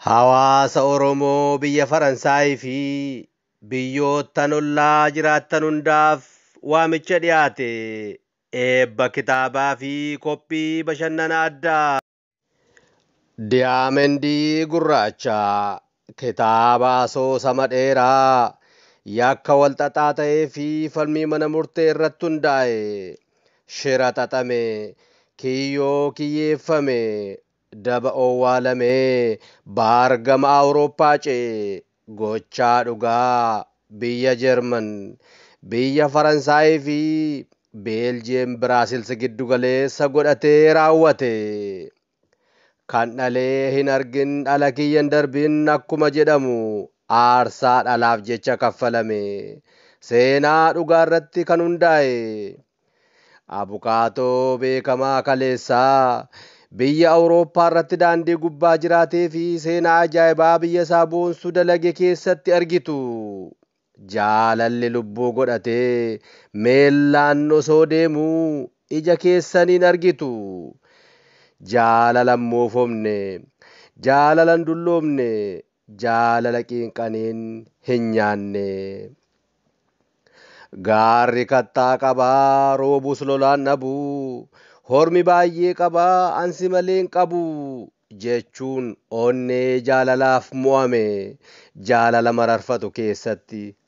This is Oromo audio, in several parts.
Hawaasa Oromoo biyya Faransaayii fi biyyoottan ollaa jiraattan hundaaf waamicha dhiyaate eebba kitaabaa fi qophii bashannana addaa. Diyaamendii Gurraacha kitaaba asoosama dheeraa yakka walxaxaa ta'ee fi falmii mana murtee irratti hundaa'e, shira xaxame, kiyyoo kiyyeeffame, daba owwaalame, baar gama Awurooppaa ce'e, Gochaa dhugaa biyya Jeerman, biyya Faransaayii fi Beeljiyeem Biraasils giddu galeessa godhatee raawwate. Kan dhalee hin argin dhala kiyya hin darbin akkuma jedhamu aarsaa dhalaaf jecha kaffalame. Seenaa dhugaarratti kan hundaa'e Abukaatoo beekamaa kaleessaa biyya Awurooppaa irratti daandii gubbaa jiraatee fi seenaa ajaa'ibaa biyya isaa boonsu dalage keessatti argitu. Jaalalli lubbuu godhatee meellaan osoo deemuu ija keessaniin argitu. Jaalalan moofomne, jaalalan dulloomne, Jaalala qiinqaniin hin nyaanne. Gaarri kattaa qaba, roobus lolaan dhabu. Hormi baay'ee qaba, an si malee hin qabu. Jechuun onnee jaalalaaf mo'ame jaalala mararfatu keessatti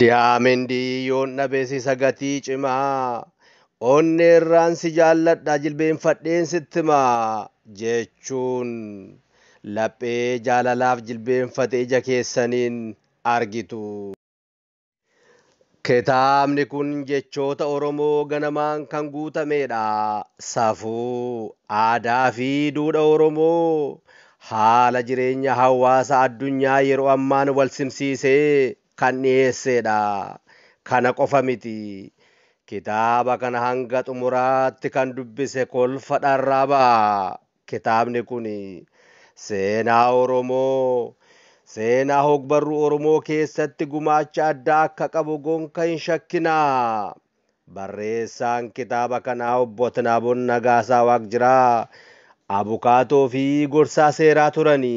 Diyaamendii yoon dhabees isa gatii cimaa onneerraan si jaalladha jilbeenfadheen sitti maa jechuun laphee jaalalaaf jilbeenfate ija keessaniin argitu. Kitaabni kun jechoota Oromoo ganamaan kan guutameedha. Safuu, aadaa fi duudha Oromoo haala jireenya hawaasa addunyaa yeroo ammaan wal simsiisee kan dhiyeesseedha. Kana qofa miti. Kitaaba kana hanga xumuraatti kan dubbise kolfa dharraa ba'a. Kitaabni kun seenaa Oromoo, seenaa hogbarruu Oromoo keessatti gumaacha addaa akka qabu gonka hin shakkina. Barreessaan kitaaba kanaa Obbo Tinaabon Nagaasaa Waaqjiraa abukaatoo fi gorsaa seeraa turani.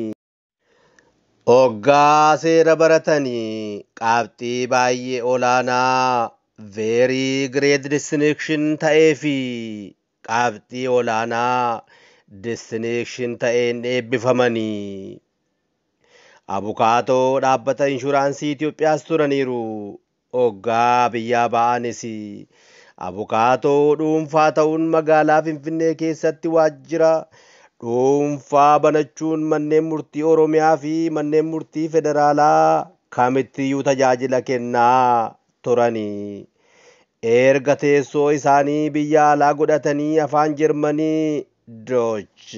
Oggaa seera baratan qabxii baay'ee olaanaa, very great distinction, ta'ee fi qabxii olaanaa, distinction, ta'een eebbifamani. Abukaatoo dhaabbata inshuraansii Itoophiyaas turaniiru. Oggaa biyyaa ba'anis abukaatoo dhuunfaa ta'uun magaalaa Finfinnee keessatti waajjira dhuunfaa banachuun manneen murtii Oromiyaa fi manneen murtii federaalaa kamittiyyuu tajaajila kennaa turani. Erga teessoo isaanii biyya alaa godhatanii Afaan Jermanii, Deutsch,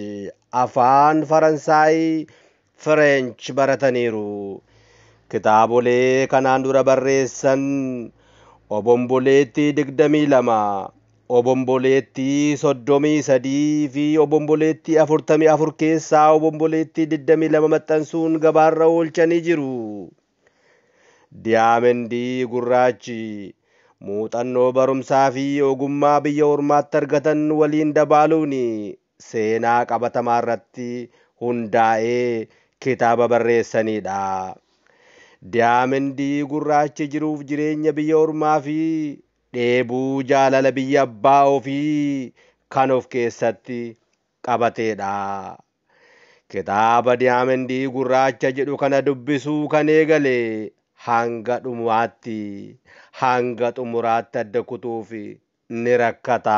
Afaan Faransaay, Fireench barataniiru. Kitaabolee kanaan dura barreessan Obomboleettii 22, Obomboleettii 33 fi Obomboleettii 44 keessaa Obomboleettii 22 maxxansuun gabaarra oolchanii jiru. Diyaamendii gurraachi muuxannoo barumsaa fi ogummaa biyya ormaatti argatan waliin dabaaluun seenaa qabatamaarratti hundaa'ee kitaaba barreessaniidha. Diyaamendii gurraachi jiruuf jireenya biyya ormaafi dheebuu jaalala biyya abbaa ofii kan of keessatti qabateedha. Kitaaba Diyaamendii Gurraacha jedhu kana dubbisuu kan eegale hanga dhumaatti, hanga xumuraatti adda kutuuf ni rakkata.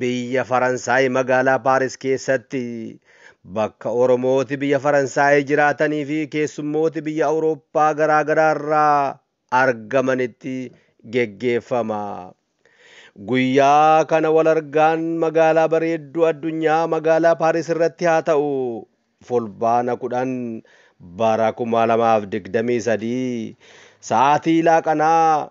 Biyya Faransaay magaalaa Paaris keessatti bakka Oromooti biyya Faransaay jiraatanii fi keessummooti biyya Awurooppaa garaa garaa irraa argamanitti geggeeffama. Guyyaa kana wal argaan magaalaa bareedduu addunyaa magaalaa Paaris irratti haa ta'u Fulbaana 10 bara 2023 sa'aatii laaqanaa